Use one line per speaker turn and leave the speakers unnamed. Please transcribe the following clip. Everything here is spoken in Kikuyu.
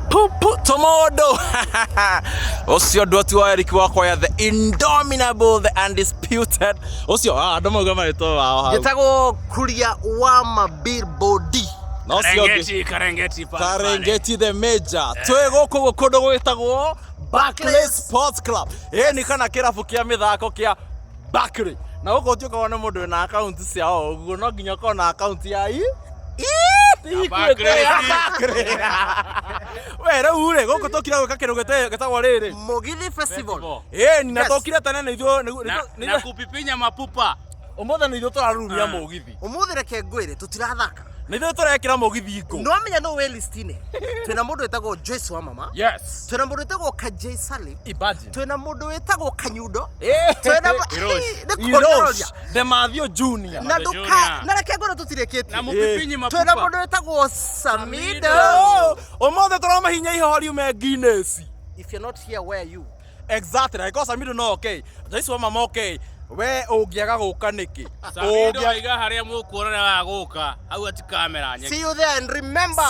pupu tomodo ucio ndu ti wa eric wakwa ya the indominable the undisputed ucio ah andu mauga maritwa wao hau Gĩtagwo kuria wa mabillboard. na ucio ũngĩ- karengeti pale, pale. karengeti the major twĩ gũkũ gũ- kũndũ gwĩtagwo Barclays Sports Club ĩĩ nĩ kana kĩrabu kĩa mĩthako kĩa Bakĩrĩ, na gũkũ ũtuĩkaga nĩ mũndũ wĩna akaunti cia o ũguo no nginya ũkorwo na akaunti ya i we rĩu rĩ gũkũ tũkire gwĩka kĩndũ gĩte- gĩtagwo rĩrĩ Mũgithi Festival. ĩni na Yes. tũkire tene nĩ ithuĩ- nĩ- Na- nĩ- na nĩ- kupipinya mapupa ũmũthĩ nĩ ithuĩ tũraruria mũgithi Ũmũthĩ reke ngwĩre tũtirathaka. nĩ ithuĩ tũrekĩra mũgithi ngũ No menya no wĩ listinĩ. Twĩna mũndũ wĩtagwo Joyce wa mama. yes Twĩna mũndũ wĩtagwo Kajay Salim. imagine twĩna mũndũ wĩtagwo kanyundo twĩna mu- nĩ kũnororia Demathio Junior. na ndũka na reke ngoro tũtirĩkĩtie Na mũbibinyi twĩna mabuba. mũndũ wĩtagwo samido Oh, Ũmũthĩ tũramahinya ihoho riume Guinness. if you're not here where are you Exactly. Angĩkorwo Samido no okay. Jaisu wa mama okay. We ũngĩaga gũka nĩkĩ? Samido Ũngĩa- aiga harĩa mũkuonana wa gũka hau ati kamera nyeki see you there and remember